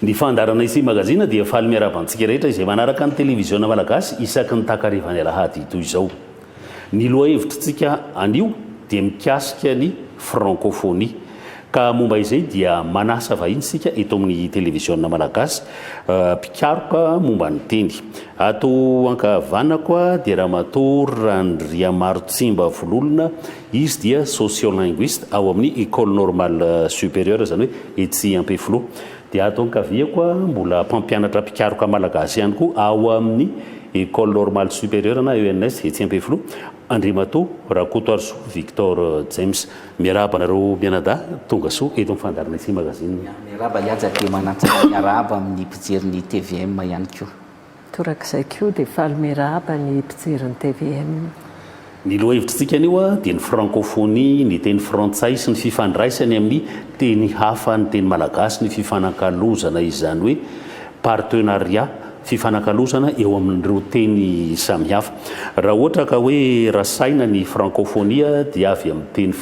Ny fandaharana Ity Magazine dia faly miarahaba antsika rehetra izay manaraka ny Televiziona Malagasy isaky ny takarivan'ny Alahady toy izao. Ny lohahevitrintsika anio dia mikasika ny Frankofonia. Ka momba izay dia manasa vahiny isika eto amin'ny Televiziona Malagasy mpikaroka momba ny teny. Ato ankavanako dia Ramatoa Randriamarontsimba Vololona, izy dia sociolinguiste ao amin'ny Ecole Normale Supérieure, izany hoe etsy Ampefiloha. Dia ato ankaviako mbola mpampianatra mpikaroka malagasy ihany koa ao amin'ny Ecole Normale Supérieure na ENS etsy Ampefiloha, Andriamatoa Rakotoarisoa Victor James. Miarahaba anareo mianadahy, tonga soa eto amin'ny fandaharana ity magazine. Miarahaba i Haja dia manantsara miarahaba amin'ny mpijery ny tvm ihany koa. Torak'izay koa dia faly miarahaba ny mpijery ny tvm. Ny lohahevitr'itsika anio dia ny frankofonia, ny teny frantsay sy ny fifandraisany amin'ny teny hafa, ny teny malagasy, ny fifanakalozana izany hoe. Partenariat, fifanakalozana eo amin'ireo teny samihafa. Raha ohatra ka hoe rasaina ny frankofonia dia avy amin'ny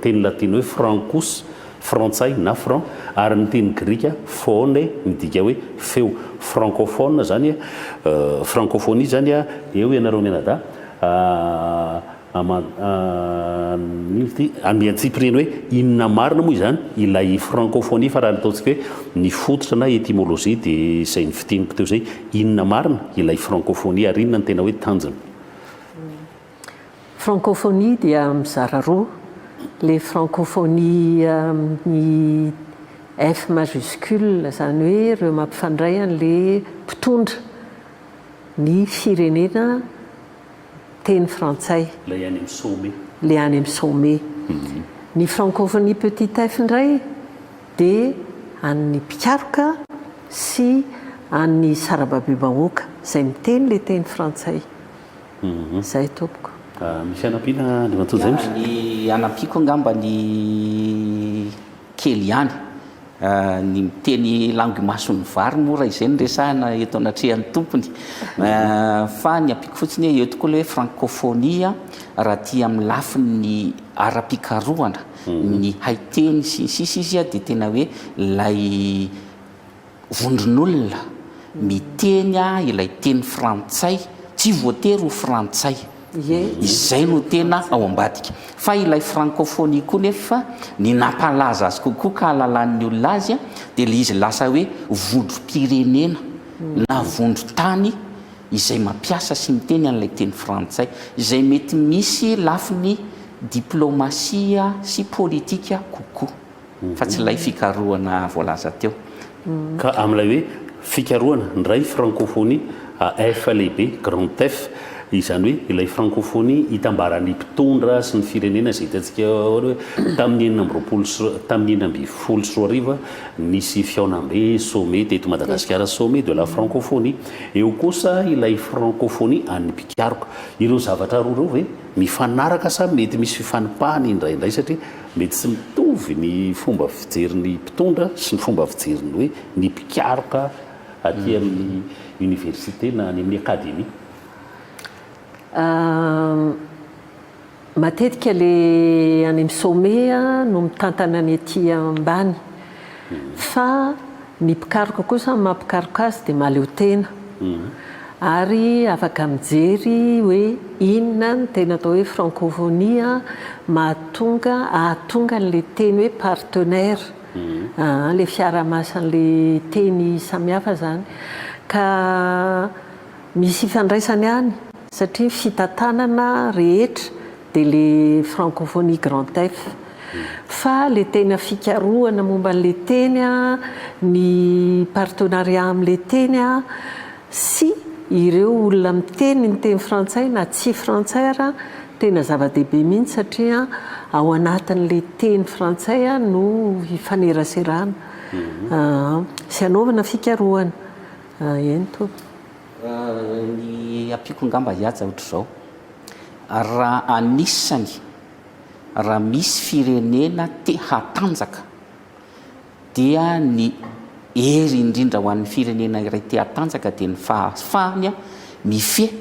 teny latino hoe francus, frantsay na franc, ary ny teny grika phone midika hoe feo. Frankophone zany, frankofonia zany, eo ianareo mianadahy. Andian-tsipiriany hoe inona marina moa izany ilay frankofonia fa raha ny ataontsika hoe ny fototra na etimolojia dia izay nofintiniko teo izay. Inona marina ilay frankofonia ary inona no tena hoe tanjona? Frankofonia dia mizara roa, ilay frankofonia amin'ny F majuscule izany hoe ireo mampifandray an'ilay mpitondra ny firenena teny frantsay. Ilay any amin'ny sommet. Ilay any amin'ny sommet. Ny Francophonie Petit F indray dia an'ny mpikaroka sy an'ny sarababebahoaka izay miteny ilay teny frantsay. Izay tompoko. Misy hanampiana Andriamatoa James? Ny hanampiako angamba ny. kely ihany. Ny miteny langue mason'ny vary moa raha izay no resahina eto anatrehan'ny tompony. Fa ny ampiako fotsiny hoe eo tokoa ilay hoe francophonie raha aty amin'ny lafiny ara-pikarohana ny haiteny sy ny sisa izy dia tena hoe ilay Vondron'olona miteny ilay teny frantsay tsy voatery ho frantsay izay no tena ao ambadika. Fa ilay francophonie koa nefa ny nampalaza azy kokoa ka ahalalan'ny olona azy dia ilay izy lasa hoe vondrom-pirenena na vondron-tany izay mampiasa sy miteny an'ilay teny frantsay. Izay mety misy lafiny diplaomasia sy politika kokoa. fa tsy ilay fikarohana voalaza teo. Ka amin'ilay hoe fikarohana, ndray frankofonia, a F lehibe, grand F, izany hoe ilay frankofonia itambaran'ny mpitondra sy ny firenena izay hitantsika eo aloha hoe tamin'ny enina amby roapolo sy tamin'ny enina ambin'ny folo sy roa arivo nisy fihaonambe, sommet, teto Madagasikara, sommet de la frankofonia. Eo kosa ilay frankofonia an'ny mpikaroka. Ireo zavatra roa ireo ve mifanaraka sa mety misy fifanipahana indraindray satria Mety tsy mitovy ny fomba fijerin'ny mpitondra sy ny fomba fijerin'ny hoe ny mpikaroka aty amin'ny université na any amin'ny académie. Matetika ilay any amin'ny sommet no mitantana ny aty ambany. Fa ny mpikaroka kosa ny maha mpikaroka azy dia mahaleo tena ary afaka mijery hoe inona no tena atao hoe francophonie mahatonga ahatonga an'ilay teny hoe partenaire ilay fiarahamasan'ilay teny samihafa izany ka misy ifandraisany any satria ny fitantanana rehetra dia le francophonie grand F fa le tena fikarohana momba anle teny a, ny partenariat amle teny a, sy ireo olona miteny ny teny frantsay na tsy frantsay ara tena zava-dehibe mihitsy satria ao anatinle teny frantsay no hifaneraserana sy hanaovana fikarohana. Eny tompoko. Ny ampiako angamba hihaja ohatr'izao, raha anisany raha misy firenena te hatanjaka dia ny hery indrindra ho an'ny firenena iray te hatanjaka dia ny fahafahany mifehy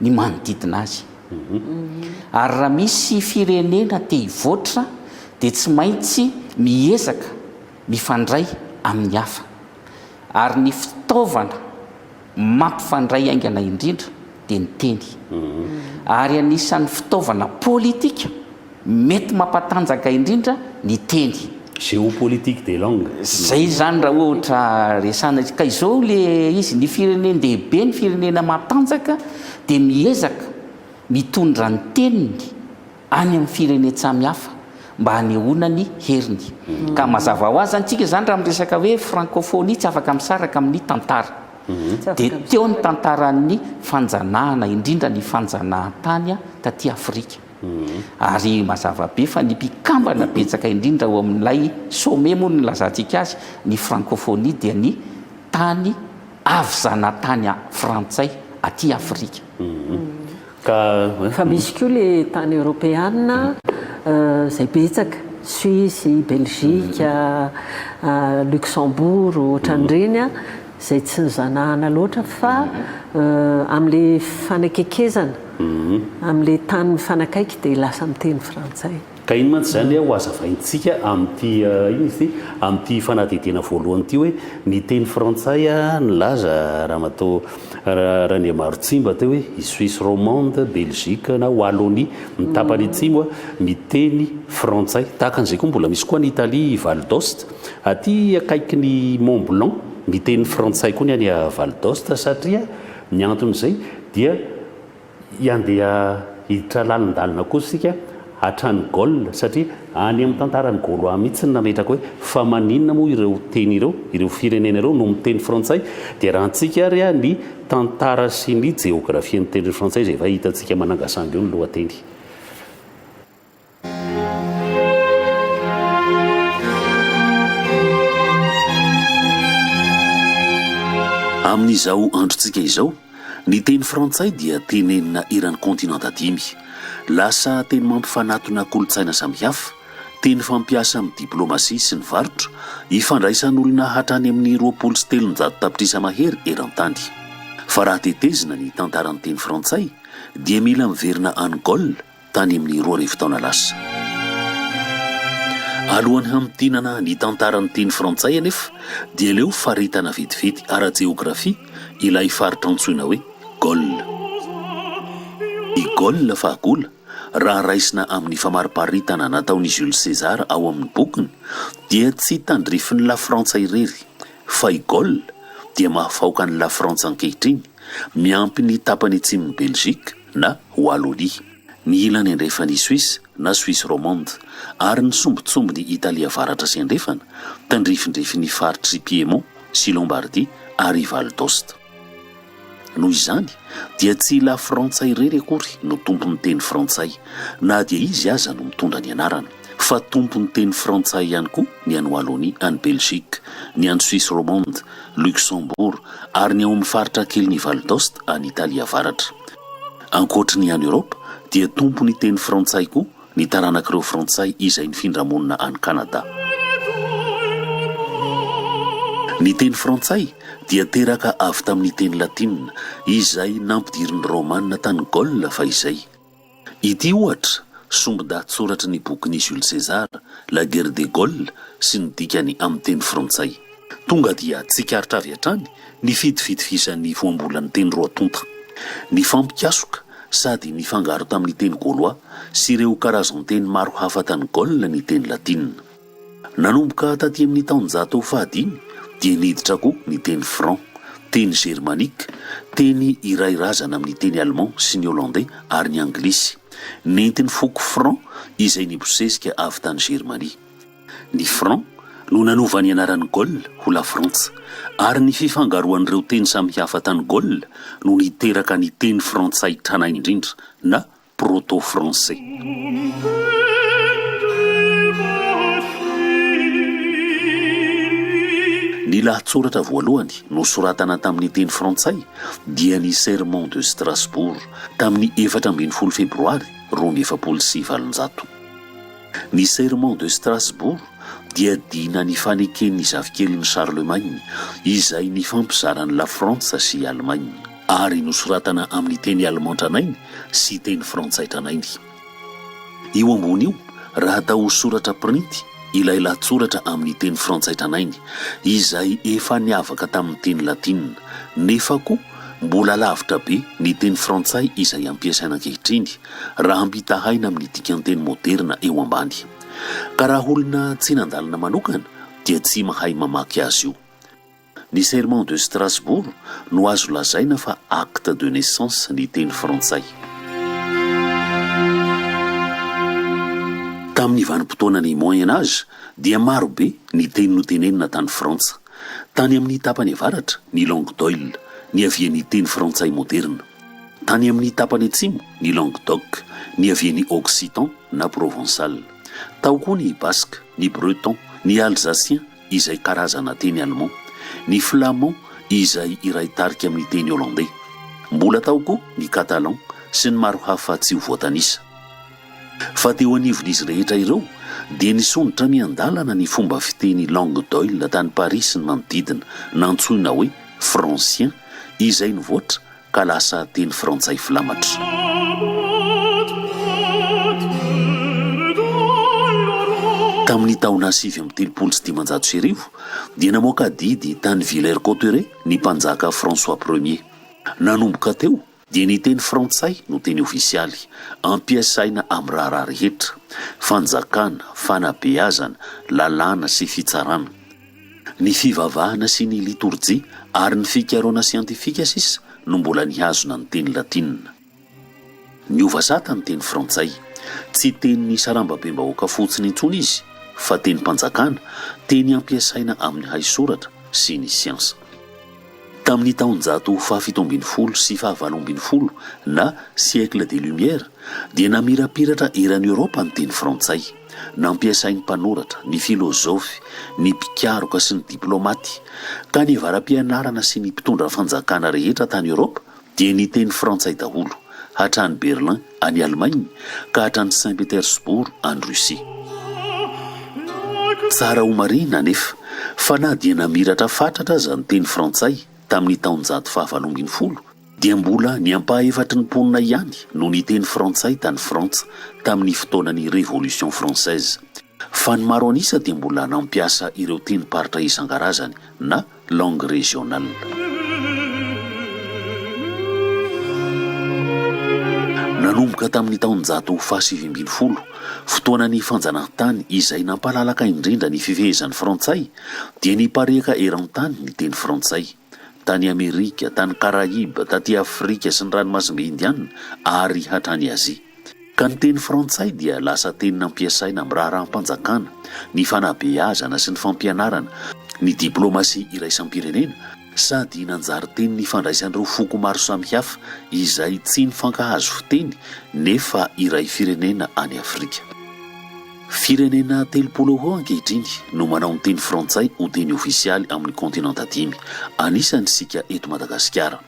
ny manodidina azy. Ary raha misy firenena te hivoatra dia tsy maintsy miezaka mifandray amin'ny hafa, ary ny fitaovana mampifandray haingana indrindra dia ny teny, ary anisan'ny fitaovana politika mety mampatanjaka indrindra ny teny. Géopolitique des langues. Izay izany raha ohatra resahana izy. Ka izao ilay izy, ny firenen-dehibe, ny firenena matanjaka dia miezaka mitondra ny teniny, any amin'ny firenen-tsamy hafa mba hanehoana ny heriny. Ka mazava ho azy antsika izany raha miresaka hoe frankofonia tsy afaka misaraka amin'ny tantara. Dia teo ny tantaran'ny fanjanahana, indrindra ny fanjanahan-tany taty Afrika. Ary mazava be fa ny mpikambana betsaka indrindra ao amin'ilay sommet moa no nilazantsika azy, ny frankofonia dia ny tany avy zanatany frantsay aty Afrika. Fa misy koa le tany eoropeana izay betsaka, Suisse, Belgique, Luxembourg, ohatran'ireny, izay tsy nizanahana loatra fa amin'le fanakekezana, amin'le tany mifanakaiky dia lasa miteny frantsay. Ka iny mantsy izany ho hazavaintsika amin'ity inona izy ity? amin'ity fanadihadiana voalohany ity hoe ny teny frantsay nilaza Ramatoa Randriamarotsimba teo hoe i Suisse romande, Belgique na Wallonie ny tapany atsimo miteny frantsay. Tahaka an'izay koa mbola misy koa any Italie i Val d'Aoste, aty akaikin'i Mont Blanc miteny frantsay koa ny any Val d'Aoste satria ny anton'izay dia Handeha hiditra lalindalina kosa isika hatrany Gaule satria any amin'ny tantaran'ny Gaulois mihitsy no nametraka hoe fa maninona moa ireo teny ireo, ireo firenena ireo no miteny frantsay? Dia raha antsika ary ny tantara sy ny jeografian'ny teny frantsay izay efa hitantsika manangasangy eo ny lohateny. Amin'izao androntsika izao, ny teny frantsay dia tenenina eran'ny kontinanta dimy. Lasa teny mampifanatona kolontsaina samihafa, teny fampiasa amin'ny diplaomasia sy ny varotra, ifandraisan'olona hatrany amin'ny roapolo sy telonjato tapitrisa mahery eran-tany. Fa raha tetezina ny tantaran'ny teny frantsay, dia mila miverina any Gaule, tany amin'ny roa arivo taona lasa. Alohan'ny hamintinana ny tantaran'ny teny frantsay anefa dia leo faritana vetivety ara-jeografia ilay faritra antsoina hoe Gaule. I Gaule fahagola, raha raisina amin'ny famariparitana nataon'i Jules César ao amin'ny bokiny, dia tsy tandrifin'i Lafrantsa irery, fa i Gaule dia mahafaoka an'i Lafrantsa ankehitriny, miampy ny tapany atsimon'i Belgique, na Wallonie, ny ilany andrefan' i Suisse na Suisse romande, ary ny sombintsombin' i Italia avaratra sy andrefana, tandrifindrifin' ny faritr' i Piémont sy Lombardy ary i Val d'Aoste. Noho izany dia tsy i Lafrantsa irery akory no tompon' ny teny frantsay, na dia izy aza no mitondra ny anarana. fa tompon'ny teny frantsay ihany koa ny any Wallonie, any Belgique, ny any Suisse romande, Luxembourg, ary ny ao amin'ny faritra kelin'i Val d'Aoste, any Italie Avaratra. Ankoatry ny any Eoropa, dia tompon'ny teny frantsay koa ny taranak'ireo Frantsay izay nifindra monina any Kanada. Ny teny frantsay dia teraka avy tamin'ny teny latina, izay nampidirin'ny Romana tany Gaule fahizay. Ity, ohatra, sombin-dahatsoratry ny bokin'i Jules César, La guerre des Gaules, sy ny dikany amin'ny teny frantsay. Tonga dia tsikaritra avy hatrany ny fidifidfisan'ny voambolan'ny teny roa tonta. Nifampikasoka sady nifangaro tamin'ny teny gaullois sy ireo karazan-teny maro hafa tany Gaule ny teny latina. Nanomboka taty amin'ny taonjato fahadimy dia niditra koa ny teny franc, teny germanique, teny iray razana amin'ny teny allemand sy ny hollandais ary ny anglisy. Nentin'ny foko franc izay nibosesika avy tany Germania. Ny franc no nanova ny anaran'i Gaule ho Lafrantsa, ary ny fifangaroan'ireo teny samihafa tany Gaule no niteraka ny teny frantsay tranainy indrindra na proto-français. Ny lahatsoratra voalohany nosoratana tamin'ny teny frantsay dia ny Sermon de Strasbourg tamin'ny efatra ambin'ny folo Febroary roa amby efapolo sy valonjato. Ny Sermon de Strasbourg dia dina ny faneken'ny zafikelin'i Charlemagne izay nifampizara an'i Lafrantsa sy i Alemaina. ary nosoratana amin'ny teny alemà tranainy sy teny frantsay tranainy. Io ambony io, raha atao ho soratra printy, ilay lahatsoratra amin'ny teny frantsay tranainy, izay efa niavaka tamin'ny teny latinina, nefa koa mbola lavitra be ny teny frantsay izay ampiasaina ankehitriny, raha ampitahaina amin'ny dikan-teny moderina eo ambany. Ka raha olona tsy nandalina manokana dia tsy mahay mamaky azy io. Ny Serment de Strasbourg no azo lazaina fa acte de naissance ny teny frantsay. Tamin' ny vanim-potoanan' ny Moyen Âge dia marobe ny teny notenenina tany Frantsa. Tany amin' ny tapany avaratra, ny langue d'oil, niavian' ny teny frantsay môderina. Tany amin' ny tapany atsimo, ny langue d'oc, niavian' ny ôksitan na prôvônsal. Tao koa ny baska, ny breton, ny alzasien, izay karazana teny allemand, ny flamand izay iray tarika amin'ny teny hollandey. Mbola tao koa ny catalan sy ny maro hafa tsy ho voatanisa. Fa teo anivon'izy rehetra ireo dia nisondrotra miandalana ny fomba fiteny langue d'oil tany Paris sy ny manodidina, nantsoina hoe francien, izay nivoatra ka lasa teny frantsay filamatra. Tamin'ny taona sivy amby telopolo sy dimanjato sy arivo dia namoaka didy tany Villers-Cotterêts ny mpanjaka François Premier. Nanomboka teo dia ny teny frantsay no teny ofisialy ampiasaina amin'ny raharaha rehetra, fanjakana, fanabeazana, lalàna sy fitsarana. Ny fivavahana sy ny litorjia ary ny fikarohana siantifika sisa no mbola nihazona ny teny latinina. Niova sata ny teny frantsay. Tsy tenin'ny sarambabem-bahoaka fotsiny intsony izy fa tenim-panjakana, teny ampiasaina amin'ny haisoratra sy ny siansa. Tamin'ny taonjato fahafito ambin'ny folo sy fahavalo ambin'ny folo na siècle des Lumières dia namirapiratra eran'i Eoropa ny teny frantsay. Nampiasain'ny mpanoratra, ny filozofy, ny mpikaroka sy ny diplaomaty, ka ny vara-pianarana sy ny mpitondra fanjakana rehetra tany Eoropa dia niteny frantsay daholo, hatrany Berlin, any Alemaina, ka hatrany Saint Petersbourg, any Russie. Tsara homarihina anefa, fa na dia namiratra fatratra aza ny teny frantsay tamin'ny taonjato fahavalo ambin'ny folo, dia mbola ny ampahefatry ny mponina ihany no niteny frantsay tany Frantsa tamin'ny fotoanan'ny Révolution française, fa ny maro an'isa dia mbola nampiasa ireo tenim-paritra isan-karazany na langues régionales. Nanomboka tamin'ny taonjato fahasivy ambin'ny folo, fotoanan'ny fanjanahantany izay nampalalaka indrindra ny fifehezan'ny frantsay, dia nipareaka eran-tany ny teny frantsay. tany Amerika, tany Karaiba, taty Afrika sy ny Ranomasimbe Indianina ary hatrany Azia. Ka ny teny frantsay dia lasa teny nampiasaina amin'ny raharaham-panjakana, ny fanabeazana sy ny fampianarana, ny diplaomasia iraisam-pirenena sady nanjary teny nifandraisan'ireo foko maro samihafa izay tsy nifankahazo fiteny nefa iray firenena any Afrika. Firenena telopolo ho eo ankehitriny no manao ny teny frantsay ho teny ofisialy amin'ny kaontinanta dimy, anisany isika eto Madagasikara.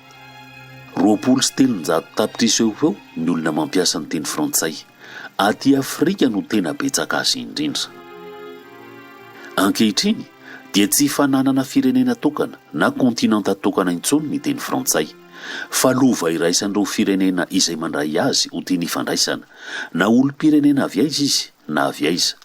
Roapolo sy telonjato tapitrisa eo ho eo ny olona mampiasa ny teny frantsay. Aty Afrika no tena betsaka azy indrindra. Ankehitriny dia tsy fananana firenena tokana na kaontinanta tokana intsony ny teny frantsay. fa lova iraisan'ireo firenena izay mandray azy ho tiany hifandraisana, na olom-pirenena avy aiza izy na avy aiza.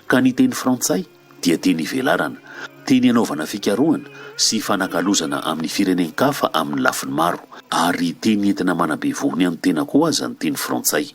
Ka ny teny frantsay dia teny ivelarana, teny anaovana fikarohana sy hifanakalozana amin'ny firenen-kafa amin'ny lafiny maro, ary teny entina manabe vohony an'ny tena koa aza ny teny frantsay.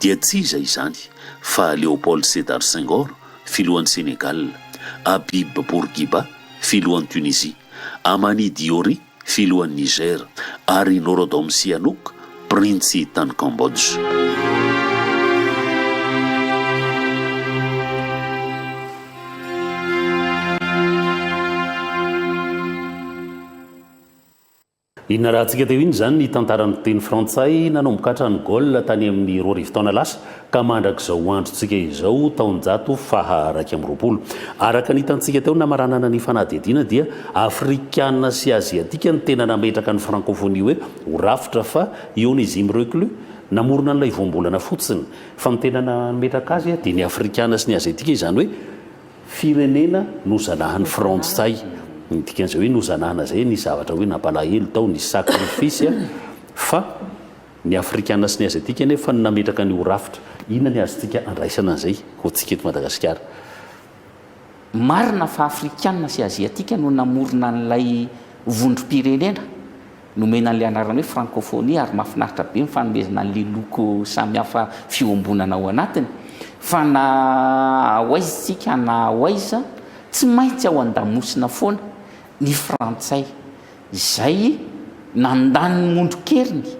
dia tsy iza izany fa Léopold Sédar Senghor, filohan'i Sénégal, Habib Bourguiba, filohan'i Tunisie, Amani Diori, filohan'i Niger, ary Norodom Sihanouk, printsy tany Cambodge. Inona raha antsika teo inona izany ny tantaran'ny teny frantsay nanomboka hatrany Gaule tany amin'ny roa arivo taona lasa ka mandrak'izao androntsika izao taonjato faha iraika amby roapolo. Araka ny hitantsika teo namaranana ny fanadihadiana dia afrikana sy aziatika ny tena nametraka ny frankôfônia hoe ho rafitra fa i Onésime Reclus namorona an'ilay voambolana fotsiny fa ny tena nametraka azy dia ny afrikana sy ny aziatika izany hoe Firenena nozanahan'ny Frantsay, ny dikan'izay hoe nozanahana izay nisy zavatra hoe nampalahelo tao, nisy sacrifice a! fa ny Afrikana sy ny Aziatika anefa no nametraka an'io ho rafitra. Inona ny azontsika andraisana an'izay ho antsika eto Madagasikara? Marina fa Afrikana sy Aziatika no namorona an'ilay vondrom-pirenena, Nomena an'ilay anarana hoe Frankofonia ary mahafinaritra be ny fanomezana an'ilay loko samihafa fiombonana ao anatiny. Fa na ho aiza isika na ho aiza, tsy maintsy ao an-damosina foana ny Frantsay, izay nandany ny mondron-keriny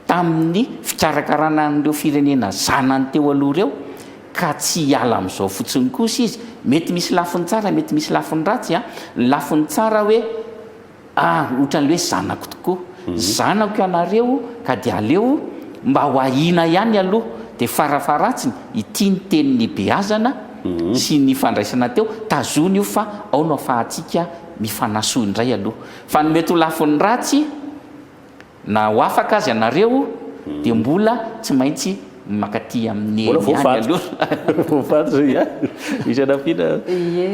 tamin'ny fikarakarana an'ireo firenena zanany teo aloha ireo, ka tsy hiala amin'izao fotsiny kosa izy. Mety misy lafiny tsara, mety misy lafiny ratsy. Ny lafiny tsara hoe. Ah, ohatran'ilay hoe zanako tokoa. Zanako ianareo ka dia aleo mba ho ahiana ihany aloha, dia farafaharatsiny ity ny teny nibeazana sy nifandraisana teo, tazony io fa ao no afahantsika mifanasoa indray aloha. Fa ny mety ho lafiny ratsy, Na ho afaka aza ianareo dia mbola tsy maintsy mankaty amin'ny eny ihany aloha. Mbola voafaty. Voafaty izay an! Misy anampiana? Ie.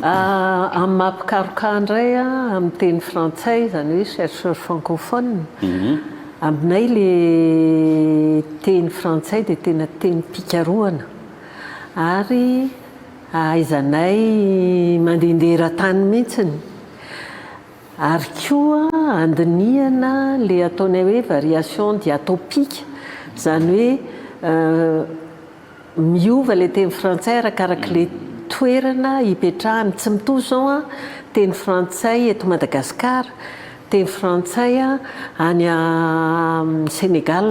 Amin'ny maha mpikaroka indray an, amin'ny teny frantsay, izany hoe chercheur francophone, aminay ilay teny frantsay dia tena tenim-pikarohana ary ahaizanay mandehandeha eran-tany mihitsy. Ary koa handinihana le ataonay hoe variation diatopique, zany hoe miova le teny frantsay arakarak'le toerana ipetrahany, tsy mitovy izao an, teny frantsay eto Madagascar, teny frantsay any Senegal.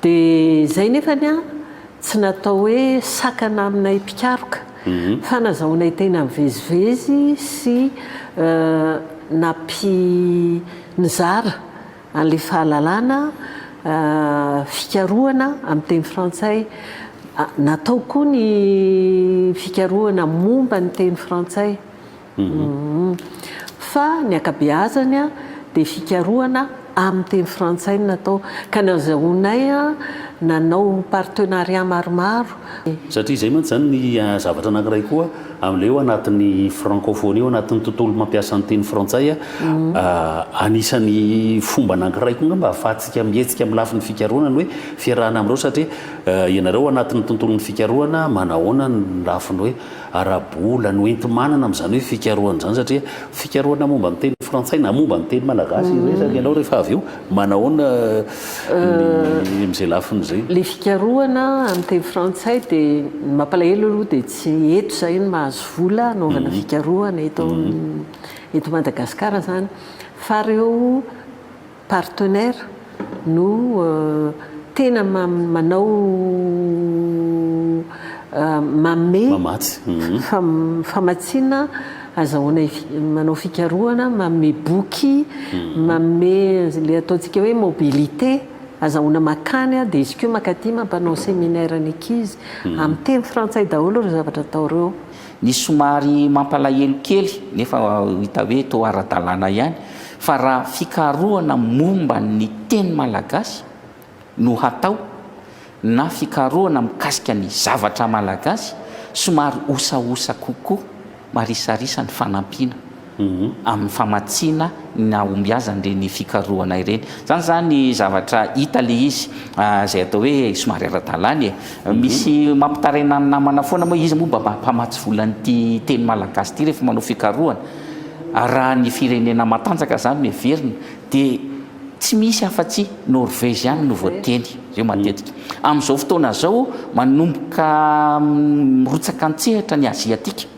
Dia izay nefany an, tsy natao hoe sakana aminay mpikaroka, fa nazahoanay tena mivezivezy sy nampi nizara an'ilay fahalalana fikarohana amin'ny teny frantsay. Natao koa ny fikarohana momba ny teny frantsay. Fa ny ankabeazany dia fikarohana amin'ny teny frantsay no natao, ka ny azahoanay nanao partenariat maromaro. Satria izay mantsy izany ny zavatra anankiray koa amin'ilay eo anatin'ny francophonie, eo anatin'ny tontolo mampiasa ny teny frantsay, anisan'ny fomba anankiray koa angamba ahafahantsika mihetsika amin'ny lafiny fikarohana ny hoe fiarahana amin'ireo satria ianareo anatin'ny tontolon'ny fikarohana manahoana ny lafiny hoe ara-bola no enti-manana amin'izany hoe fikarohana izany satria fikarohana momba ny teny frantsay na momba ny teny malagasy iresaka ianao rehefa avy eo manahoana ny amin'izay lafiny izay? Ilay fikarohana amin'ny teny frantsay dia ny mampalahelo aloha dia tsy eto izahay no mahazo vola hanaovana fikarohana eto eto Madagasikara izany fa ireo Partenaire no tena manao manome famatsiana, azahoana manao fikarohana, manome boky, manome ilay ataontsika hoe mobilité, azahoana makany dia izy koa mankaty mampanao séminaire ny ankizy. Amin'ny teny frantsay daholo ireo zavatra atao ireo. Ny somary mampalahelo kely, nefa hita hoe toa ara-dalàna ihany, fa raha fikarohana momba ny teny malagasy no hatao na fikarohana mikasika ny zavatra malagasy, somary osaosa kokoa, marisarisa ny fanampiana. amin'ny famatsiana ny nahombiazany ireny fikarohana ireny. Izany izany zavatra hita ilay izy izay atao hoe somary ara-dalàna e. Misy mampitaraina ny namana foana moa iza moa mba mpamatsy volan'ity teny malagasy ity rehefa manao fikarohana. Raha ny firenena matanjaka izany no heverina dia tsy misy afa-tsy Norvège ihany no voateny ireo matetika. Amin'izao fotoana izao manomboka mirotsaka an-tsehatra ny Aziatika.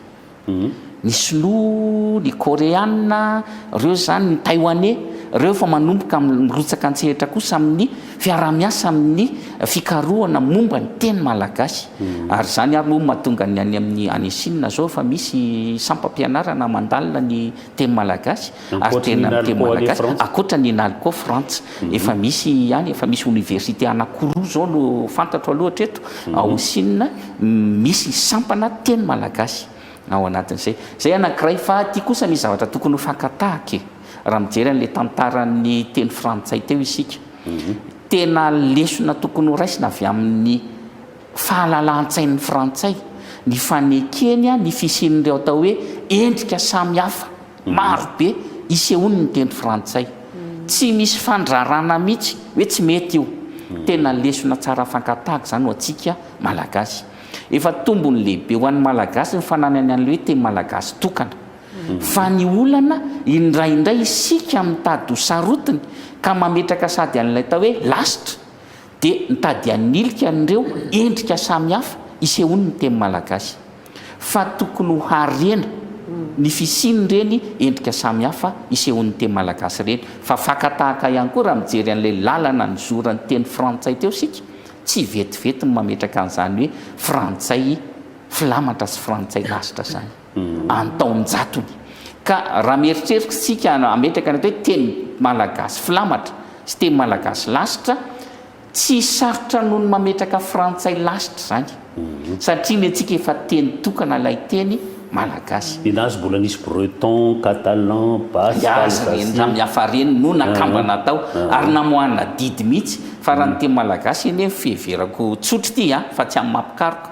Ny sinoa, ny koreana, reo zany, ny taiwanais, reo efa manomboka mirotsaka antsehatra kosa amin'ny fiarahamiasa amin'ny fikarohana momba ny teny malagasy. Ary zany ary moa no mahatonga ny any amin'ny any chine zao efa misy sampam-pianarana mandalina ny teny malagasy. Ary tena ny teny malagasy, ankoatra ny Inalco Frantsa, efa misy ihany, efa misy oniversite anankiroa izao no fantatro aloha hatreto, ao Sina, misy sampana teny malagasy ao anatin'izay. Izay anankiray. Fa aty kosa misy zavatra tokony ho fakan-tahaka e! Raha mijery an'ilay tantaran'ny teny frantsay teo isika, tena lesona tokony ho raisina avy amin'ny fahalalahan-tsain'ny frantsay ny fanekeny ny fisian'ireo atao hoe endrika samihafa, Maro be isehoany ny teny frantsay. Tsy misy fandrarana mihitsy hoe tsy mety io. Tena lesona tsara fankatahaka izany ho antsika Malagasy. Efa tombony lehibe ho an'ny Malagasy ny fananany an'ilay hoe teny malagasy tokana. Fa ny olana, indraindray isika mitady ho sarotiny ka mametraka sady an'ilay atao hoe lasitra dia mitady hanilika an'ireo endrika samihafa isehoany ny teny malagasy. fa tokony ho harena ny fisian'ireny endrika samihafa isehoan'ny teny malagasy ireny, fa fakan-tahaka ihany koa raha mijery an'ilay lalana nizoran'ny teny frantsay teo isika, tsy vetivety ny mametraka an'izany hoe frantsay filamatra sy frantsay lasitra izany an-taon-jatony, ka raha mieritreritra isika hametraka an'ilay hoe teny malagasy filamatra sy teny malagasy lasitra, Tsy sarotra noho ny mametraka frantsay lasitra izany satria ny antsika efa teny tokana ilay teny malagasy. Ninazy mbola nisy breton, catalan, basque, alsacien. Ny azy hafa ireny no nakambana tao ary namoahana adidy mihitsy fa raha ny teny malagasy anie fiheverako tsotra ity fa tsy amin'ny maha mpikaroka.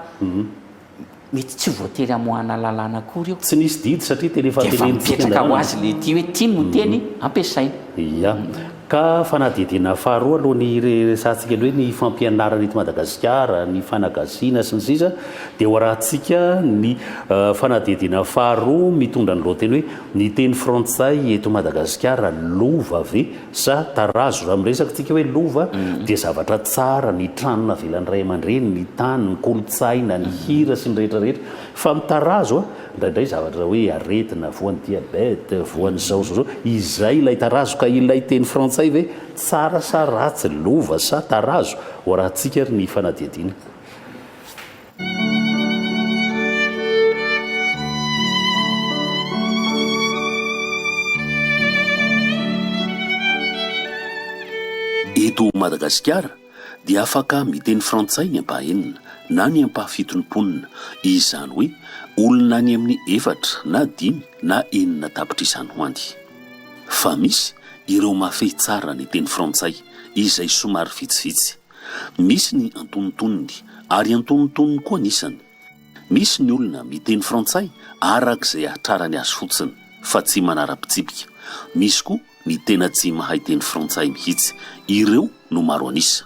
Mety tsy voatery hamoahana lalàna akory io. Tsy nisy didy satria tena efa tenenintsika ny lalàna. Dia efa mipetraka ho azy ilay dihy hoe ty no teny ampiasaina. Ia. Ka fanadihadiana faharoa aloha ny hiresahantsika an'ilay hoe ny fampianarana eto Madagasikara, ny fanagasiana sy ny sisa dia hoarahantsika ny fanadihadiana faharoa mitondra ny lohateny hoe, Ny teny frantsay eto Madagasikara lova ve? Sa tarazo? Raha miresaka tsika hoe lova dia zavatra tsara, ny trano navelan'ny ray aman-dreny, ny tany, ny kolontsaina, ny hira sy ny rehetra rehetra. Fa ny tarazo a! indraindray zavatra hoe aretina, voan'ny diabete, voan'ny izao sy izao. Izay ilay tarazo. Ka ilay teny frantsay ve tsara sa ratsy, lova sa tarazo? Ho arahantsika ary ny fanadihadiana. Eto Madagasikara dia afaka miteny frantsay ny ampahaenina na ny ampahafitony mponina, izany hoe olona any amin'ny efatra na dimy na enina tapitr'izany ho any. Fa misy ireo mahafehy tsara ny teny frantsay izay somary vitsivitsy. Misy ny antonontonony, ary antonontonony koa ny isany. Misy ny olona miteny frantsay araka izay hahatrarany azy fotsiny, fa tsy manara-pitsipika. Misy koa ny tena tsy mahay teny frantsay mihitsy. Ireo no maro an'isa.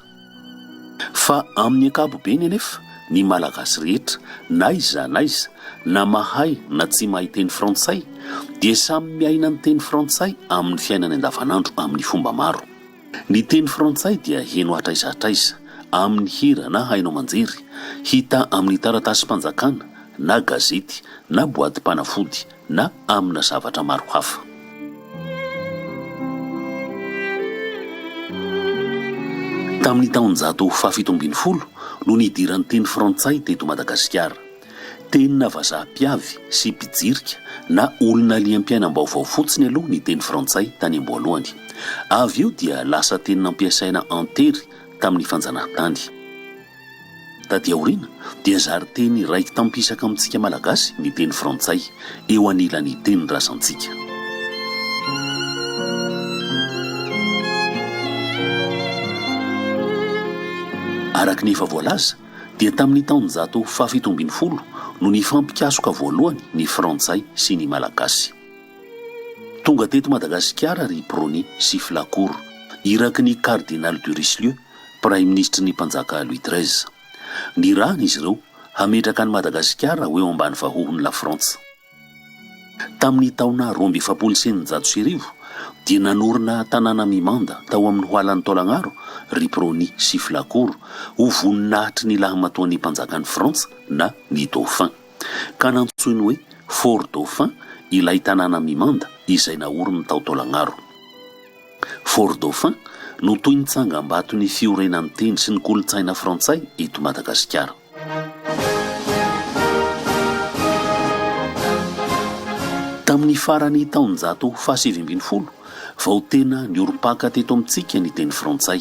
Fa amin'ny ankapobeny anefa, ny Malagasy rehetra, na iza na iza, na mahay na tsy mahay teny frantsay, dia samy miaina ny teny frantsay amin'ny fiainany andavanandro amin'ny fomba maro. Ny teny frantsay dia heno hatraiza hatraiza, amin'ny hira na haino aman-jery, hita amin'ny taratasim-panjakana na gazety na boadim-panafody na amina zavatra maro hafa. Tamin'ny taonjato fahafito ambin'ny folo no nidiran'ny teny frantsay teto Madagasikara. Tena vazaha mpiavy sy mpijirika na olona liam-piainam-baovao fotsiny aloha ny teny frantsay tany am-boalohany. Avy eo dia lasa teny nampiasaina an-tery tamin'ny fanjanahantany. Taty aoriana dia zary teny raiki-tampisaka amintsika Malagasy ny teny frantsay, eo anilan'ny tenin-drazantsika. Araka ny efa voalaza, dia tamin'ny taonjato fahafito ambin'ny folo no nifampikasoka voalohany ny Frantsay sy ny Malagasy. Tonga teto Madagasikara ry Brony sy Flacourt, iraky ny Cardinal de Richelieu, Praiminisitry ny Mpanjaka Louis treize. Nirahana izy ireo hametraka an'i Madagasikara ho eo ambany vahohon'i Lafrantsa. Tamin'ny taona roa amby efapolo sy eninjato sy arivo dia nanorina tanàna mimanda tao amin'ny hoalan'i Taolagnaro ry Prony sy Flacourt ho voninahitry ny lahamatoan'ny mpanjakan'i Frantsa na ny Dauphin, ka nantsoiny hoe Fort Dauphin ilay tanàna mimanda izay naoriny tao Taolagnaro. Fort Dauphin no toy ny tsangambaton'ny fiorenan'ny teny sy ny kolontsaina frantsay eto Madagasikara. Tamin'ny faran'ny taonjato fahasivy ambin'ny folo vao tena niorim-paka teto amintsika ny teny frantsay,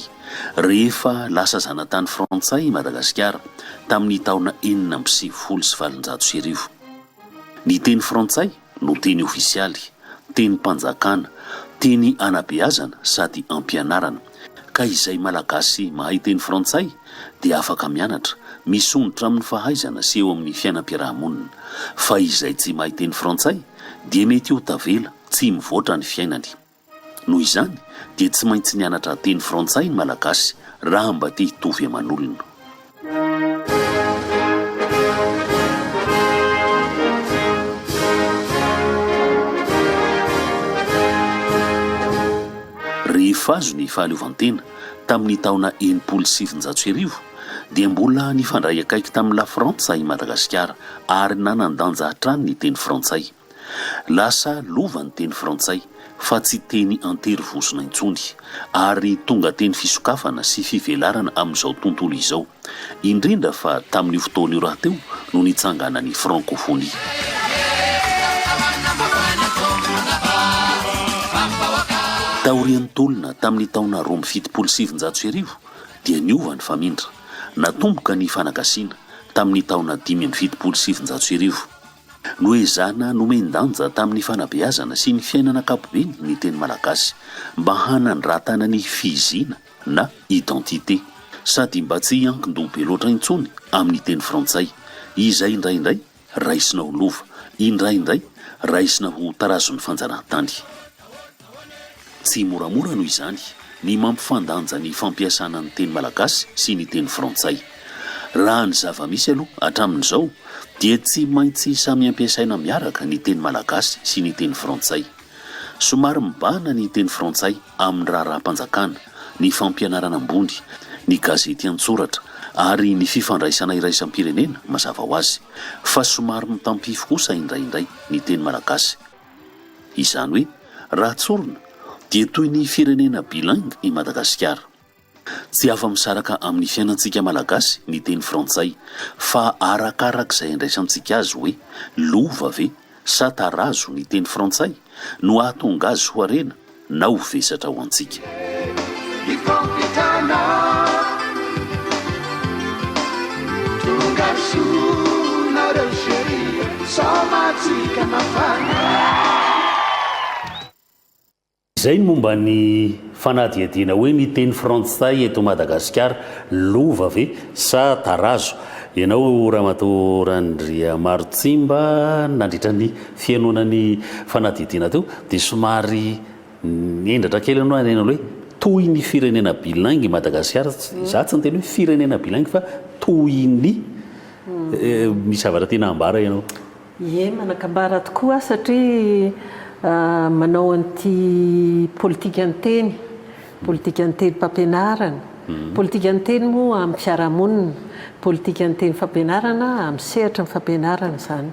rehefa lasa zanatany frantsay i Madagasikara, tamin'ny taona enina amby sivifolo sy valonjato sy arivo. Ny teny frantsay no teny ofisialy, tenim-panjakana, teny anabeazana sady ampianarana, ka izay Malagasy mahay teny frantsay dia afaka mianatra, misondrotra amin'ny fahaizana sy eo amin'ny fiainam-piarahamonina, fa izay tsy mahay teny frantsay dia mety ho tavela, tsy mivoatra ny fiainany. Noho izany dia tsy maintsy nianatra teny frantsay ny Malagasy raha mba te hitovy aman'olona. Rehefa azo ny fahaleovantena tamin'ny taona enimpolo sy sivinjato sy arivo dia mbola nifandray akaiky tamin'i Lafrantsa i Madagasikara ary nanan-danja hatrany ny teny frantsay. Lasa lova ny teny frantsay fa tsy teny an-tery vozona intsony, ary tonga teny fisokafana sy fivelarana amin'izao tontolo izao, indrindra fa tamin'io fotoana io rahateo no nitsanganan'ny frankofonia. Taorian'ny tolona tamin'ny taona roa amby fitopolo sy sivinjato sy arivo dia niova ny famindra, natomboka ny fanagasiana tamin'ny taona dimy amby fitopolo sy sivinjato sy arivo. Noho izany, nomen-danja tamin'ny fanabeazana sy ny fiainana ankapobeny ny teny malagasy, mba hanandratana ny fihizina na identité, sady mba tsy hiankin-doha be loatra intsony amin'ny teny frantsay, izay indraindray raisina ho lova, indraindray raisina ho tarazon'ny fanjanahantany. Tsy moramora noho izany ny mampifandanja ny fampiasana ny teny malagasy sy ny teny frantsay. Raha ny zava-misy aloha hatramin'izao dia tsy maintsy samy ampiasaina miaraka ny teny malagasy sy ny teny frantsay. Somary mibahana ny teny frantsay amin'ny raharaham-panjakana, ny fampianarana ambony, ny gazety an-tsoratra ary ny fifandraisana iraisam-pirenena mazava ho azy, fa somary mitampify kosa indraindray ny teny malagasy. Izany hoe, raha tsorina, dia toy ny firenena bilingue i Madagasikara. Tsy afa-misaraka amin'ny fiainantsika Malagasy ny teny frantsay, fa arakarak'izay andraisantsika azy hoe lova ve sa tarazo ny teny frantsay no hahatonga azy ho harena na ho vesatra ho antsika. Izay ny momba ny fanadihadiana hoe ny teny frantsay eto Madagasikara lova ve sa tarazo? Ianao Ramatoa Randriamarotsimba nandritra ny. fihainoana ny fanadihadiana teo dia somary nendratra kely ianao haneno hoe toy ny firenena bilingue i Madagasikara, izaho tsy niteny hoe firenena bilingue fa toy ny, misy zavatra tiana hambara ianao? Ie, manan-kambara tokoa aho satria manao an'ity politikan-teny, politikan-tenim-pampianarana, politikan-teny moa amin'ny fiarahamonina, politikan-tenim-fampianarana amin'ny sehatry ny fampianarana izany.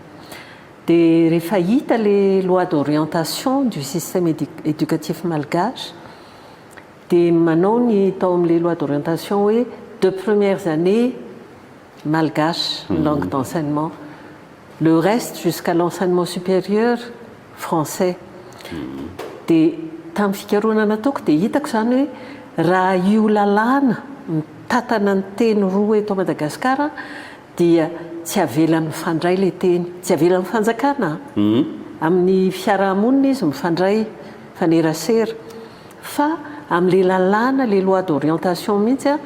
Dia rehefa hita le loi d'orientation du système éducatif malgache dia manao ny tao amin'ilay loi d'orientation hoe deux premières années malgache ny langue d'enseignement, le reste jusqu'à l'enseignement supérieur français. Dia tamin'ny fikarohana nataoko dia hitako izany hoe raha io lalàna mitantana ny teny roa eto Madagasikara, Dia tsy avela mifandray le teny. Tsy avela ny fanjakana amin'ny fiarahamonina izy mifandray mifanerasera fa amin'le lalàna le loi d'orientation mihitsy a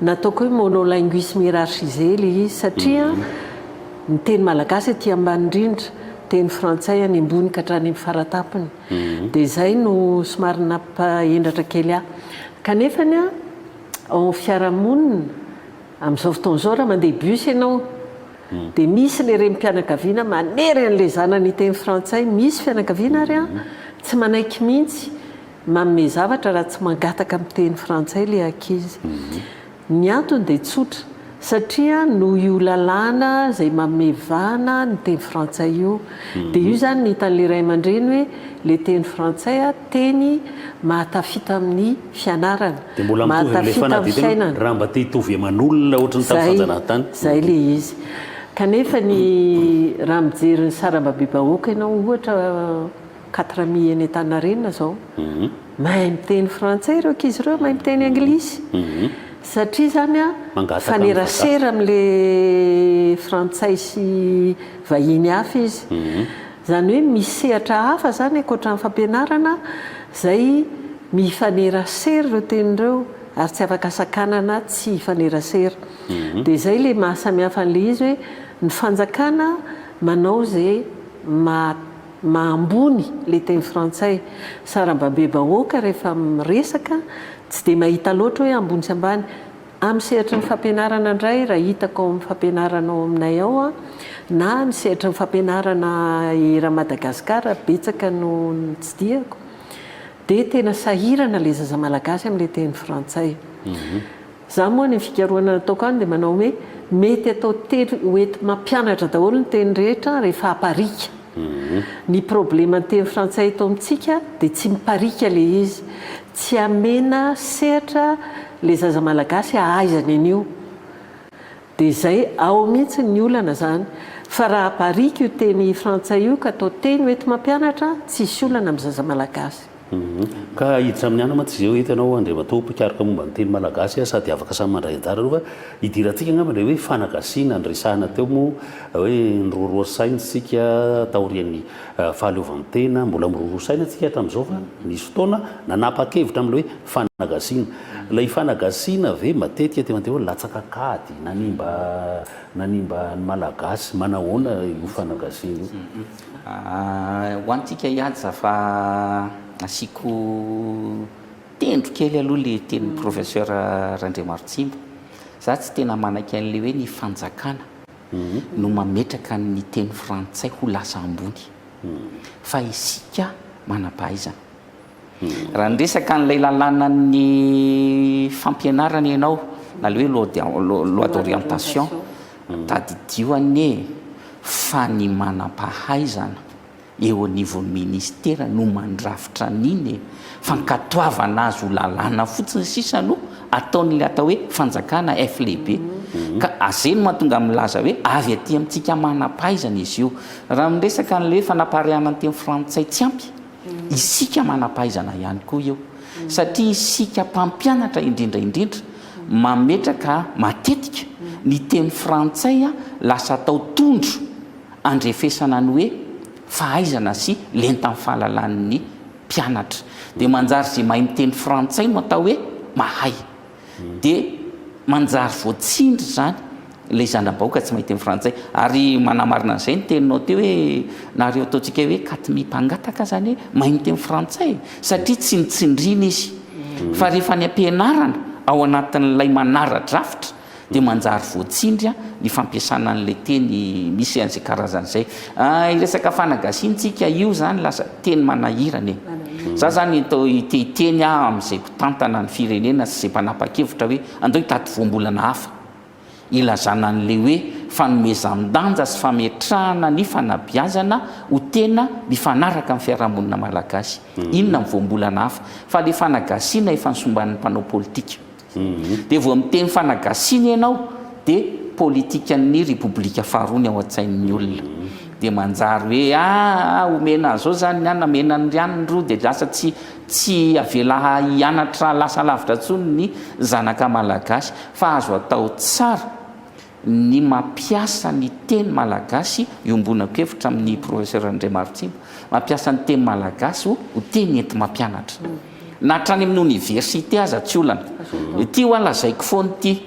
nataoko hoe monolinguisme hierarchisé le izy satria ny teny malagasy aty ambany indrindra teny frantsay any ambony ka hatrany amin'ny faratapony dia zay no somary nampahendratra kely ahy kanefany a ao amin'ny fiarahamonina Amin'izao fotoana izao raha mandeha bus ianao dia misy ilay renim-pianakaviana manery an'ilay zanany hiteny frantsay, misy fianakaviana ary an, tsy manaiky mihitsy manome zavatra raha tsy mangataka miteny frantsay ilay ankizy. Ny antony dia tsotra, satria noho io lalàna izay manome vahana ny teny frantsay io. Dia io izany no hitan'ilay ray aman-dreny hoe ilay teny frantsay teny mahatafita amin'ny. fianarana, Dia mbola mitovy amin'ilay mahatafita amin'ny fanadihadiana hoe fiainana. raha mba te hitovy eman'olona ohatry ny tamin'ny Zay, fanjanahantany. zay le izy. Kanefa ny raha mijery ny sarambabem-bahoaka ianao ohatra quatre mi eny Antaninarenina zao, mahay miteny frantsay ireo ankizy ireo, mahay miteny anglisy, satria zany an, Mangataka amin'ny mifanerasera amin'le frantsay sy vahiny hafa izy. Izany hoe misy sehatra hafa izany ankoatra ny fampianarana izay mifanerasera ireo teny ireo ary tsy afaka sakanana tsy hifanerasera. Dia izay ilay maha samy hafa an'ilay izy hoe ny fanjakana manao izay maha maha ambony ilay teny frantsay. Sara-babe-bahoaka rehefa miresaka tsy dia mahita loatra hoe ambony sy ambany. Amin'ny sehatry ny fampianarana indray, raha hitako ao amin'ny fampianarana ao aminay ao, na ny sehatry ny fampianarana eran'i Madagasikara, betsaka no notsidihako, dia tena sahirana ilay zaza malagasy amin'ilay teny frantsay. Izaho moa ny fikarohana nataoko any dia manao hoe mety atao telo, ho enti-mampianatra daholo ny teny rehetra rehefa aparika. Ny problema ny teny frantsay eto amintsika dia tsy mipariaka le izy, tsy amena sehatra le zaza malagasy ahaizany an'io dia zay, ao mihitsy ny olana zany fa raha apariaka io teny frantsay io ka atao teny hoenti-mampianatra tsisy olana amin'ny zaza malagasy. Humm. Ka i Jamniana mantsy izay eto ianao Andriamatoa mpikaroka momba ny teny malagasy sady afaka samy mandray anjara aloha fa idirantsika angamba ilay hoe fanagasiana niresahana teo moa hoe niroroa saina isika taorian'ny fahaleovantena mbola miroroa saina tsika hatramin'izao fa nisy fotoana nanapa-kevitra amin'ilay hoe fanagasiana ilay fanagasiana ve matetika teo antehoany latsaka kady nanimba nanimba ny malagasy manahoana io fanagasiana io Ho antsika hiady za fa asiako tendro kely aloha le tenin'i Professeur Randriamarotsima. Za tsy tena manaiky an'le hoe ny fanjakana no mametraka ny teny frantsay ho lasa ambony fa isika manam-pahaizana. Raha niresaka an'ilay lalànan'ny fampianarana ianao, na ilay hoe loi d'orientation, tadidio anie fa ny manam-pahaizana eo anivon'ny ministera no mandrafitra an'iny e! Fankatoavana azy ho lalàna fotsiny sisa no ataon'ilay atao hoe fanjakana F lehibe. Ka azay no mahatonga azy milaza hoe avy aty amintsika manam-pahaizana izy io. Raha miresaka an'ilay hoe fanapariahana ny teny frantsay tsy ampy, Isika manam-pahaizana ihany koa io, satria isika mpampianatra indrindra indrindra mametraka matetika ny teny frantsay lasa atao tondro andrefesana ny hoe fahaizana sy lentan'ny fahalalan'ny mpianatra. Dia manjary izay mahay miteny frantsay no atao hoe mahay. dia manjary voatsindry izany ilay zana-bahoaka tsy mahay teny frantsay. Ary manamarina an'izay ny teninao teo hoe nareo ataontsika hoe katmi mpangataka izany hoe mahay miteny frantsay e! satria tsy notsindriana izy fa rehefa any am-pianarana ao anatin'ilay manara-drafitra dia manjary voatsindry ny fampiasana an'ilay teny misy an'izay karazana izay. Hiresaka fanagasiantsika io izany lasa teny manahirana e! Izaho izany te hiteny aho amin'izay. Tantana ny firenena sy izay mpanapa-kevitra hoe andao hitady voambolana hafa. Ilazana an'ilay hoe fanomezan-danja sy fametrahana ny fanabeazana ho tena mifanaraka amin'ny fiarahamonina malagasy. Inona ny voambolana hafa? Fa ilay fanagasiana efa nisomban'ny mpanao politika. Dia vao miteny fanagasiana ianao dia politikan'ny Repoblika faharoa ny ao an-tsain'ny olona. Dia manjary hoe ah omena an'izao izany ny an, namena an'irany ny roa dia lasa tsy Tsy avela hianatra lasa lavitra intsony ny zanaka malagasy fa azo atao tsara ny mampiasa ny teny malagasy, iombonako hevitra amin'ny Professeur Andriamarotsimba, mampiasa ny teny malagasy ho teny enti-mampianatra. Na hatrany amin'ny oniversite aza tsy olana. Ity ho'a lazaiko foana ity.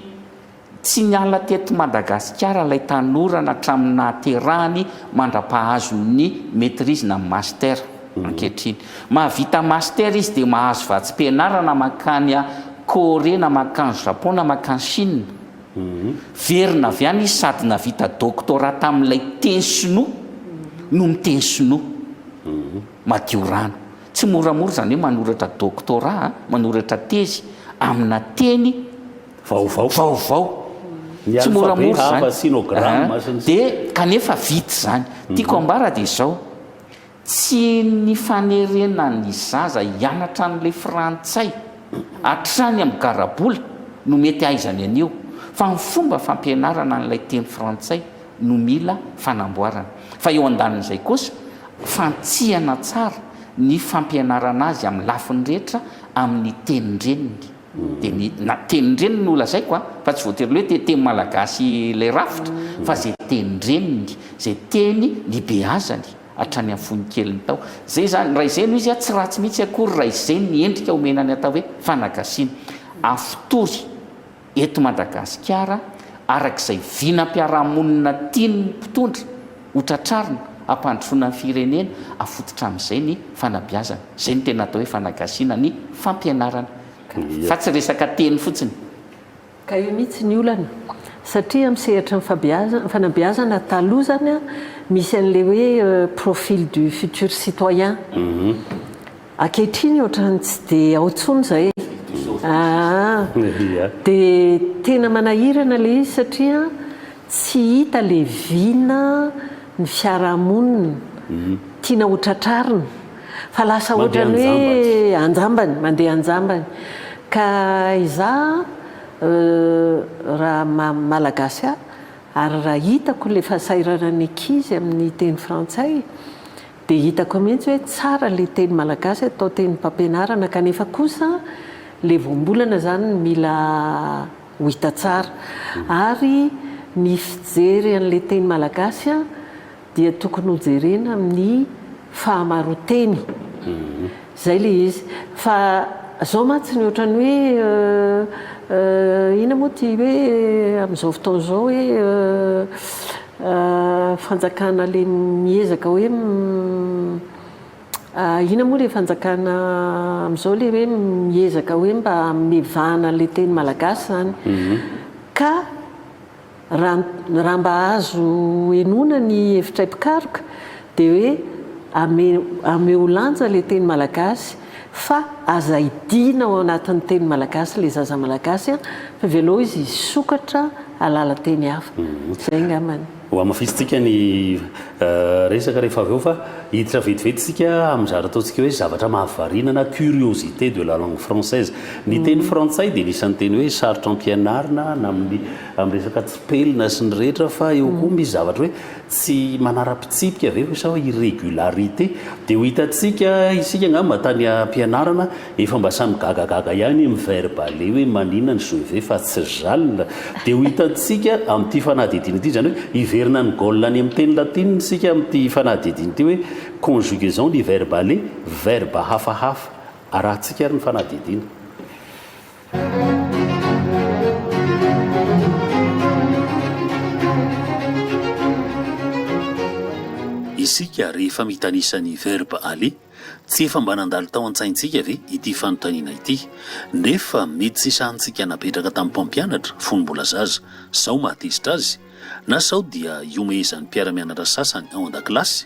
Tsy niala teto Madagasikara ilay tanora natramin'ny nahaterahany mandra-pahazo ny Maîtrise na ny Master ankehitriny. Mahavita Master izy dia mahazo vatsim-pianarana mankany Corée na mankany Japon na mankany Chine. Verina avy any izy sady nahavita Doctorat tamin'ilay teny sinoa no miteny sinoa madio rano. Tsy moramora izany hoe manoratra Doctorat, manoratra tezy amina teny. vaovao vaovao ny alphabet hava sinogramma sy ny sisa dia kanefa vita izany tiako ambara dia izao tsy ny fanerena ny zaza hianatra an'ilay frantsay hatrany amin'ny garabola no mety hahaizany an'io fa ny fomba fampianarana an'ilay teny frantsay no mila fanamboarana fa eo andanin'izay kosa fantsihana tsara ny fampianarana azy amin'ny lafiny rehetra amin'ny tenin-dreniny Dia ny na tenin-dreniny no lazaiko a, fa tsy voatery le hoe te teny malagasy ilay rafitra, fa izay tenin-dreniny, izay teny nibeazany hatrany amin'ny fony keliny tao. Izay izany, Raizeno izy a, tsy ratsy mihitsy akory raha izay ny endrika omena ny atao hoe fanagasiana. Afotory eto Madagasikara araka izay vinam-piarahamonina tian'ny mpitondra. Ho tratrarina, hampandrosoana ny firenena, hafototra amin'izay ny fanabeazana. Izay no tena atao hoe fanagasiana ny fampianarana. Fa tsy resaka teny fotsiny. Ka eo mihitsy ny olana. Satria amin'ny sehatry ny fanabeazana taloha izany misy an'ilay hoe profil du futur citoyen. Ankehitriny ohatrany tsy dia ao intsony izay ee. Dia tena manahirana ilay izy satria tsy hita ilay vina ny fiarahamonina tiana ho tratrarina fa lasa ohatrany hoe anjambany, mandeha anjambany. Ka izaho raha maha Malagasy ahy ary raha hitako ilay fahasahiranan'ny ankizy amin'ny teny frantsay Dia hitako mihintsy hoe tsara ilay teny malagasy atao tenim-pampianarana kanefa kosa ilay voambolana izany no mila ho hita tsara. Ary ny fijery an'ilay teny malagasy dia tokony hojerena amin'ny fahamaroanteny. Zay le izy. Fa zao mantsy ny ohatran'ny hoe inona moa ty hoe amin'izao fotoana izao hoe fanjakana le miezaka hoe inona moa le fanjakana amin'izao le hoe miezaka hoe mba hamevahana an'ilay teny malagasy zany. Ka. Raha mba azo henoina ny hevitray mpikaroka dia hoe ameo lanja ilay teny malagasy fa aza hidiana ao anatin'ny teny malagasy ilay zaza malagasy an! fa avelao izy hisokatra hahalala teny hafa. Izay angamba ny. Ho hamafisintsika ny resaka rehefa avy eo fa hiditra vetivety isika amin'ny zavatra ataontsika hoe zavatra mahavariana na curiosité de la langue française. Ny teny frantsay dia anisan'ny teny hoe sarotra ampianarina na amin'ny amin'ny resaka tsipelina sy ny rehetra fa eo koa misy zavatra hoe tsy manara-pitsipika ve hoy sa hoe irregularité dia ho hitantsika isika angamba tany ampianarana efa mba samy gagagaga ihany amin'ny verbe aller hoe manina ny je vais fa tsy j'alle dia ho hitantsika amin'ity fanadihadiana ity izany hoe hiverina ny goal any amin'ny teny latina isika amin'ity fanadihadiana ity hoe conjugaison ny verbe aller verbe hafahafa Arahintsika ary ny fanadihadiana. Isika rehefa mitanisa ny verba aller, tsy efa mba nandalo tao an-tsaintsika ve ity fanontaniana ity? Nefa mety tsy sahintsika napetraka tamin'ny mpampianatra fony mbola zaza, sao mahatezitra azy? Na sao dia iomehezan'ny mpiara-mianatra sasany ao an-dakilasy?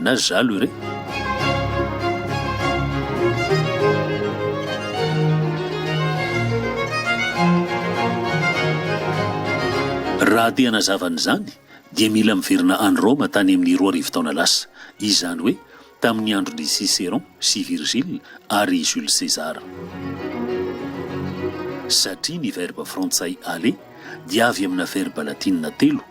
na zalo ireo. Raha te hanazava an'izany dia mila miverina any Roma tany amin'ny roa arivo taona lasa, izany hoe tamin'ny andron'i Cicéron sy Virgile ary i Jules César. Satria ny verba frantsay aller dia avy amina verba latinina telo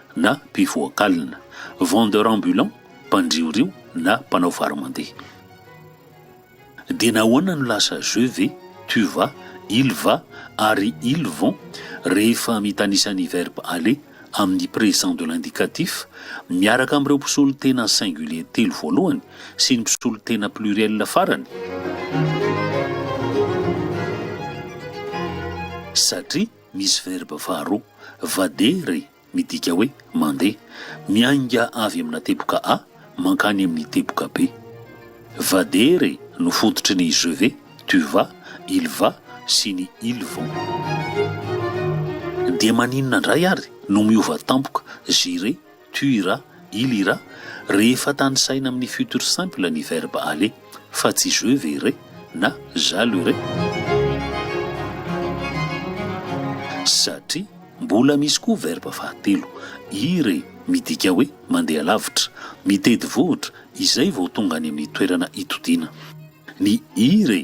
na mpivoaka alina, vendeur ambulant, mpandriorio na mpanao vary mandeha. Dia nahoana no lasa je ve, tu vas, il va ary ils vont rehefa mitanisa ny verbe aller amin'ny présent de l'indicatif miaraka amin'ireo mpisolotena singulier telo voalohany sy ny mpisolotena pluriel farany? Satria Misy verba faharoa, vadere, midika hoe mandeha, miainga avy amina teboka A mankany amin'ny teboka B. Vadere no fototry ny je vais, tu vas, il va sy ny ils vont. Dia maninona indray ary no miova tampoka j'irai, tu ira, il ira, rehefa tanisaina amin'ny futur simple ny verbe aller, fa tsy je verrai na j'allerai. Satria mbola misy koa verbe fahatelo, ir e, midika hoe mandeha lavitra, mitety vohitra, izay vao tonga any amin'ny toerana itodiana. Ny ir e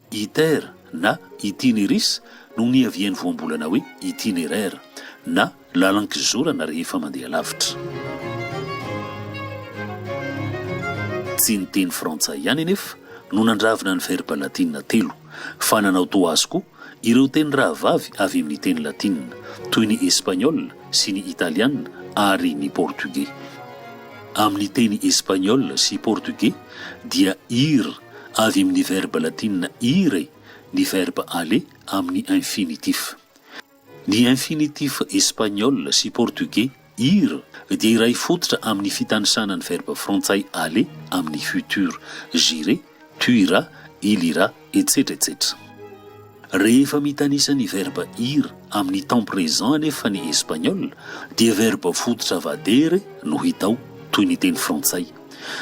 Iter na Itineris no niavian'ny voambolana hoe itinéraire na lalan-kizorana rehefa mandeha lavitra. Tsy ny teny frantsay ihany anefa no nandravina ny verba latina telo fa nanao toa azy koa ireo teny rahavavy avy amin'ny teny latina toy ny espaniola sy ny italiana ary ny portogey. Amin'ny teny espaniola sy portogey dia ir Avy amin'ny verba latinina ire ny verba aller amin'ny infinitif. Ny infinitif espaniola sy portogey ir dia iray fototra amin'ny fitanisana ny verba frantsay aller amin'ny futur, j'irai, tu iras, il ira, etsetra etsetra. Rehefa mitanisa ny verba ir amin'ny temps présent anefa ny Espaniola, dia verba fototra vadere no hita ao, toy ny teny frantsay.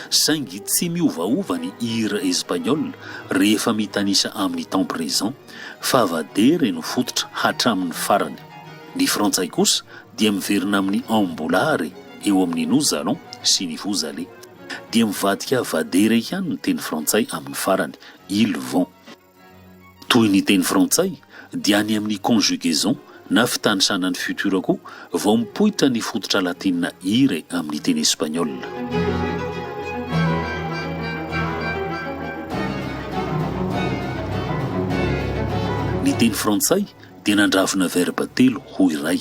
Saingy tsy miovaova ny ir espaniola rehefa mitanisa amin'ny temps présent, fa vadere no fototra hatramin'ny farany. Ny frantsay kosa dia miverina amin'ny ambulare eo amin'ny nous allons sy ny vous allez. Dia mivadika vadere ihany ny teny frantsay amin'ny farany, ils vont. Toy ny teny frantsay dia any amin'ny conjugaison na fitanisanan'ny futur koa vao mipoitra ny fototra latina ire amin'ny teny espaniola. Ny teny frantsay dia nandravona verba telo ho iray.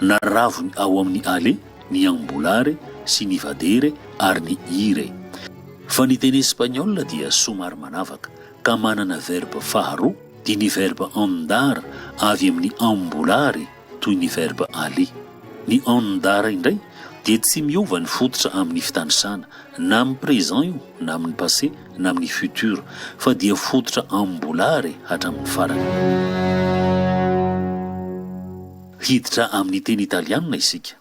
Naravony ao amin'ny ale ny ambulare sy ny vadere ary ny ire. Fa ny teny espaniola dia somary manavaka. ka manana verba faharoa, dia ny verba andar avy amin'ny ambolary toy ny verba ali. Ny andar indray dia tsy miova ny fototra amin'ny fitanisana, na amin'ny présent io, na amin'ny passé, na amin'ny futur, fa dia fototra ambolary hatramin'ny farany. Hiditra amin'ny teny italianina isika.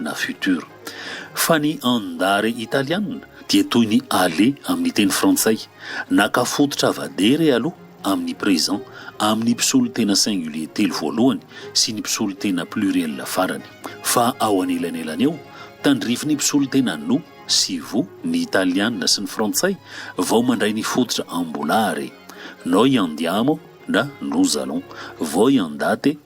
na futur. Fa ny andare italiana dia toy ny aller amin'ny teny frantsay, naka fototra avadere aloha amin'ny présent amin'ny mpisolo tena singulier telo voalohany sy ny mpisolo tena pluriel farany. Fa ao anelanelany eo, tandrifin'ny mpisolo tena no sy vo ny italiana sy ny frantsay vao mandray ny fototra ambolare, noi andiamo na nous allons, voi andate,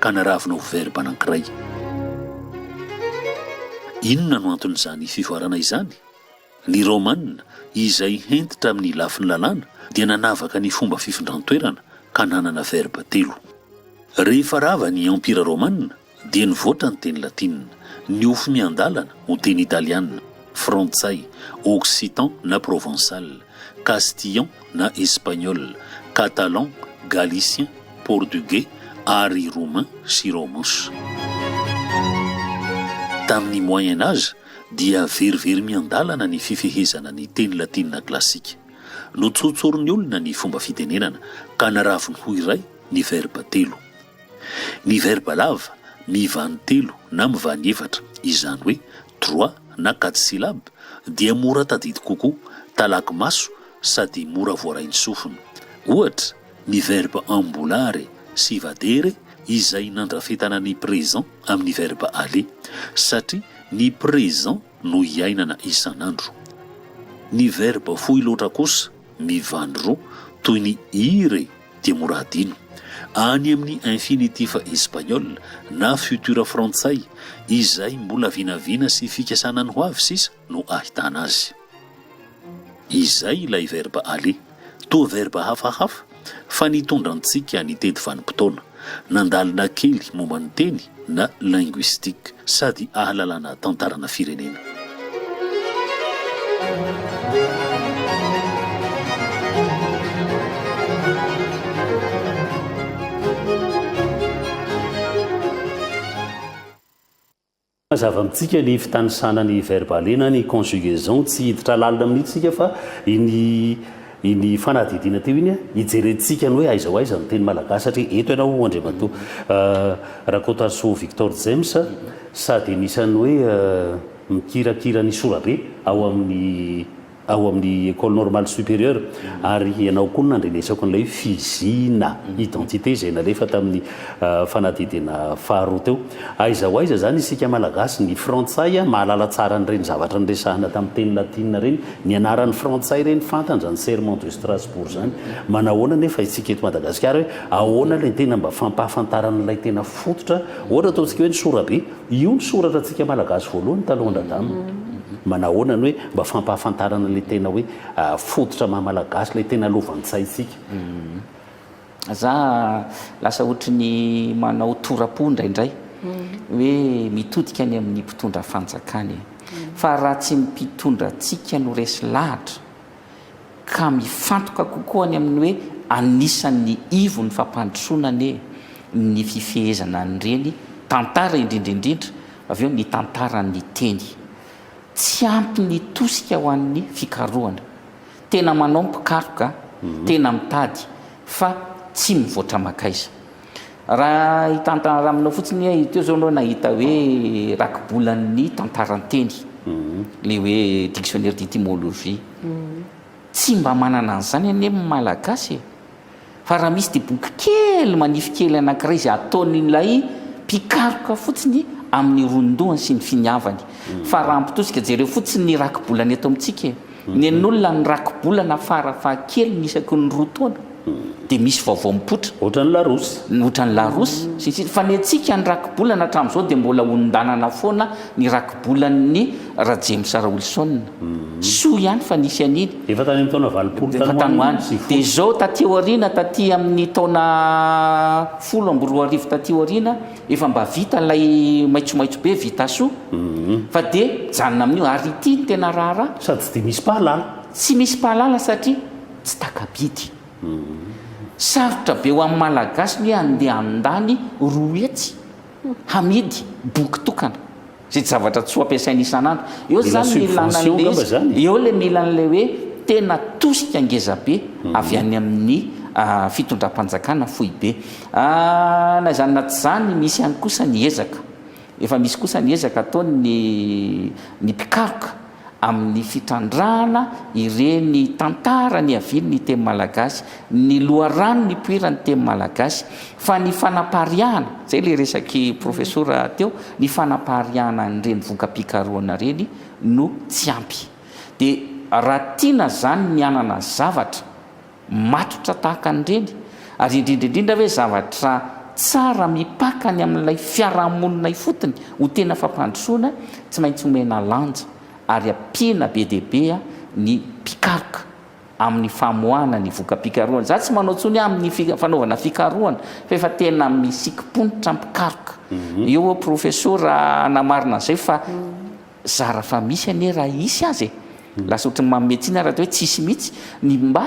ka naravina ho verba anankiray. Inona no anton'izany fivoarana izany? Ny Romana, izay hentitra amin'ny lafiny lalàna, dia nanavaka ny fomba fifindran-toerana ka nanana verba telo. Rehefa rava ny Empira Romana, dia nivoatra ny teny latinina, niofo miandalana ho teny italiana, frantsay, occitan na provençal, Castillon na Espagnol, Catalan, Galicien, Portugais ary Roumain sy Romus. Tamin'ny Moyen Age dia very very miandalana ny fifehezana ny teny latina klasika. Notsotsorin'ny olona ny fomba fitenenana ka naraviny ho iray ny verba telo. Ny verba lava mivany telo na mivany efatra, izany hoe droit na quatre syllabes dia mora tadidy kokoa, talaky maso sady mora voarain'ny sofina. Ohatra, ny verbe ambolare sy vadere izay nandrafetana ny présent amin'ny verbe aller, satria ny présent no iainana isan'andro. Ny verbe fohy loatra kosa, mivandro, toy ny ire dia mora adino. Any amin'ny infinitif espagnol na futur frantsay, izay mbola vinavina sy fikasana ny ho avy sisa no ahitana azy. Izay ilay verba aller, toa verba hafahafa, fa nitondra antsika nitety vanim-potoana, nandalina kely momba ny teny, na linguistique sady ahalalana tantarana firenena. Mazava amintsika ny fitanisana ny verbe alena ny conjugaison tsy hiditra lalina amin'itsika fa iny Iny fanadihadiana teo iny hijerentsika ny hoe aiza ho aiza ny teny malagasy satria eto ianao Andriamatoa Rakotasoa Victor James sady anisan'ny hoe mikirakira ny sorabe ao amin'ny ao amin'ny Ecole Normale Supérieure ary ianao koa no nandrenesako an'ilay hoe fizina identité izay nalefa tamin'ny fanadihadiana faharoa teo. Aiza ho aiza izany isika Malagasy? Ny Frantsay mahalala tsara an'ireny zavatra niresahana tamin'ny teny latina ireny. Ny anarany frantsay ireny fantany zany serment de Strasbourg zany. Manahoana anefa isika eto Madagasikara hoe ahoana ilay tena mba fampahafantarana ilay tena fototra. Ohatra ataontsika hoe ny sorabe. Io ny soratra antsika Malagasy voalohany talohan dradama. Manahoana ny hoe mba fampahafantarana ilay tena hoe fototra maha Malagasy ilay tena lovantsainsika. Za lasa ohatry ny manao tora-po indraindray hoe mitodika any amin'ny mpitondra fanjakana e. Fa raha tsy ny mpitondra antsika no resy lahatra ka mifantoka kokoa any amin'ny hoe anisan'ny ivon'ny fampandrosoana anie ny fifehezana an'ireny tantara indrindra indrindra avy eo ny tantaran'ny teny. Tsy ampy ny tosika ho an'ny fikarohana. Tena manao mpikaroka, tena mitady fa tsy mivoatra makaiza. Raha hitantara aminao fotsiny aho teo zao anao nahita hoe rakibolan'ny tantaran-teny, le hoe dictionnaire d'etymologie. Tsy mba manana an'izany anie ny Malagasy e! Fa raha misy diboka kely manify kely anankiray izay ataon'ilay mpikaroka fotsiny amin'ny ronodohany sy ny finiavany. Fa raha ampitosika, jereo fotsiny ny rakibolana eto amintsika e! Nen'olona ny rakibolana fara fahakeliny isaky ny roa taona, dia misy vaovao mipoitra. Ohatran'ny Larousse. Ohatran'ny Larousse, sy ny sisa. Fa ny antsika ny rakibolana hatramin'izao dia mbola hondanana foana ny rakibolan'ny. Rajemsa Raolison, soa ihany fa nisy an'iny. Efa tany amin'ny taona valopolo tany ho any sy folo. Dia izao taty aoriana, taty amin'ny taona folo amby roa arivo taty aoriana, efa mba vita ilay maitsomaitso be Vitasoa, fa dia mijanona amin'io. Ary ity no tena raharaha. Sady tsy dia misy mpahalala. Tsy misy mpahalala satria tsy taka-bidy. Sarotra be ho an'ny Malagasy ny hoe handeha handany roa hetsy hamidy boky tokana. Zid zavatra tsy ho ampiasaina isan'andro. Eo zany ny ilana an'ilay izy. Eo ilay mila an'ilay hoe tena tosika ngeza be avy any amin'ny fitondram-panjakana foibe. Na izany na tsy izany misy ihany kosa ny ezaka. Efa misy kosa ny ezaka ataon'ny ny mpikaroka. amin'ny fitrandrahana ireny tantara niavian'ny teny malagasy, ny loharano nipoiran'ny teny malagasy, fa ny fanapariahana, izay ilay resaky profesora teo, ny fanapariahana an'ireny voka-pikarohana ireny no tsy ampy. Dia raha tiana izany ny hanana zavatra, matotra tahaka an'ireny? Ary indrindra indrindra ve zavatra tsara mipaka ny amin'ilay fiarahamonina ifotony ho tena fampandrosoana tsy maintsy omena lanja ary ampiana be dia be ny mpikaroka amin'ny famoahana ny voka-pikarohana? Izaho tsy manao intsony amin'ny fanaovana fikarohana fa efa tena misikim-ponitra mpikaroka. Eo aho Profesora hanamarina an'izay fa Zara fa misy anie raha hisy aza e! Lasa ohatran'ny manome tsiny ary atao hoe tsisy mihitsy ny mba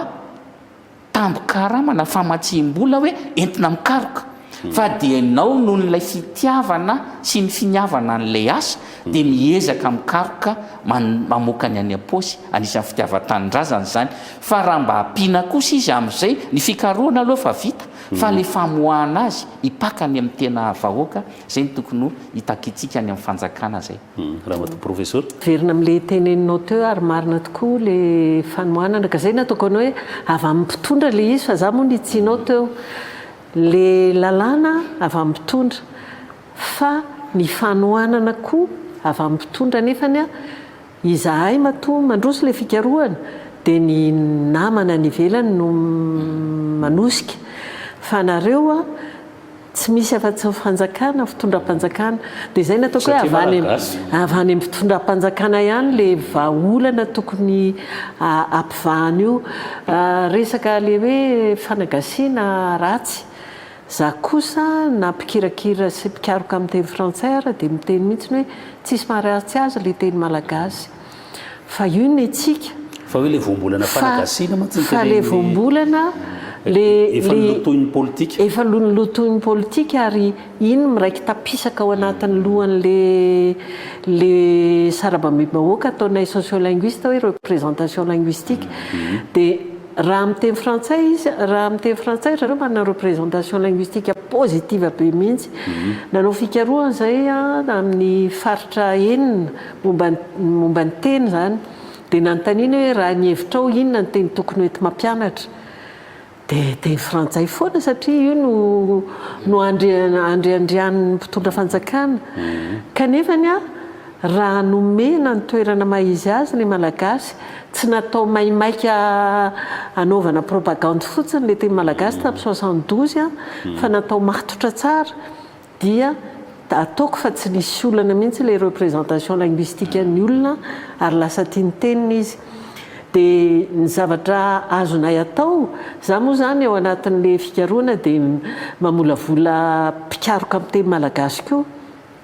tambin-karama na famatsiam-bola hoe entina mikaroka. Fa dia ianao noho ilay fitiavana sy ny finiavana an'ilay asa dia miezaka mikaroka mamoaka ny any am-paosy, anisan'ny fitiavan-tanindrazana izany. Fa raha mba ampiana kosa izy amin'izay, ny fikarohana aloha efa vita fa ilay famoahana azy hipaka any amin'ny tena vahoaka Zay no tokony ho itakitsika any amin'ny fanjakana zay. Ramatoa Professor. Miverina amle teneninao teo ary marina tokoa le fanohanana ka zay nataoko anao hoe avy aminy mpitondra le izy fa za moa nitsihinao teo le lalàna avy aminy mpitondra fa ny fanohanana koa avy aminy mpitondra nefany Izahay matoa mandroso ilay fikarohana dia ny namana any ivelany no manosika fa nareo tsy misy afa-tsy fanjakana, fitondram-panjakana dia izay no ataoko hoe avy any avy any amin'ny fitondram-panjakana ihany ilay vahaolana tokony hampivahana io resaka ilay hoe fanagasiana ratsy. Za kosa na mpikirakira sy mpikaroka amin'ny teny frantsay ara dia miteny mihitsiny hoe tsisy mariazy tsy azo ilay teny malagasy fa io ny antsika Fa hoe ilay voambolana fanagasiana mantsy ny tenenin'ny Fa ilay voambolana le Efa nolotoin'ny politika Efa nolotoin'ny politika ary iny miraiki-tapisaka ao anatin'ny lohan'ny le le sarabamim-bahoaka ataonay sociolinguiste hoe représentation linguistique dia Raha amin'ny teny frantsay izy, raha amin'ny teny frantsay ry zareo manana représentation linguistique positive be mihitsy. Nanao fikarohana izahay amin'ny faritra enina momba ny momba ny teny izany dia nanontaniana hoe raha ny hevitrao inona no teny tokony ho enti-mampianatra dia teny frantsay foana satria io no no andrian andriandrian'ny mpitondra fanjakana. Kanefa ny ahy Raha nomena ny toerana maha izy azy ny Malagasy, tsy natao maimaika hanaovana propagandy fotsiny le teny Malagasy tamin'ny soixante douze an, fa natao matotra tsara, dia ataoko fa tsy nisy olana mihitsy le représentation linguistique an'ny olona ary lasa tia ny teniny izy. De ny zavatra azonay atao, za moa zany ao anatin'le fikarohana de mamolavola mpikaroka amin'ny teny Malagasy koa,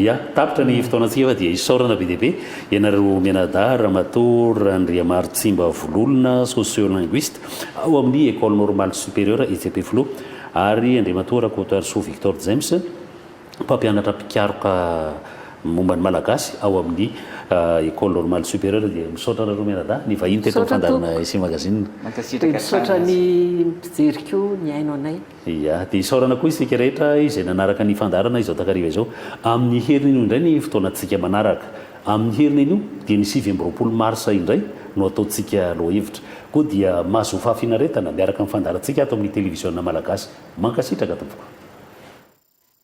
Ya, tapitra ny fotoanantsika fa dia isaorana be dia be ianareo mianadahy Ramatoa Randriamarotsimba Vololona, sociolinguiste ao amin'ny Ecole Normale Supérieure etsy Ampefiloha ary Andriamatoa Rakotoarisoa Victor James, mpampianatra mpikaroka momba ny Malagasy ao amin'ny Ecole Normale Supérieure dia misaotra anareo mianadahy nivahiny teto amin'ny fandaharana SEM Magazine. Dia misaotra ny mpijery koa nihaino anay. Dia dia isaorana koa isika rehetra izay nanaraka ny fandaharana izao takariva izao. Amin'ny heriny io indray ny fotoanantsika manaraka. Amin'ny heriny anio dia ny sivy amby roapolo marsa indray no ataontsika lohahevitra. Koa dia mahazoa fahafinaretana miaraka amin'ny fandaharantsika ato amin'ny Televiziona Malagasy. Mankasitraka tompoko.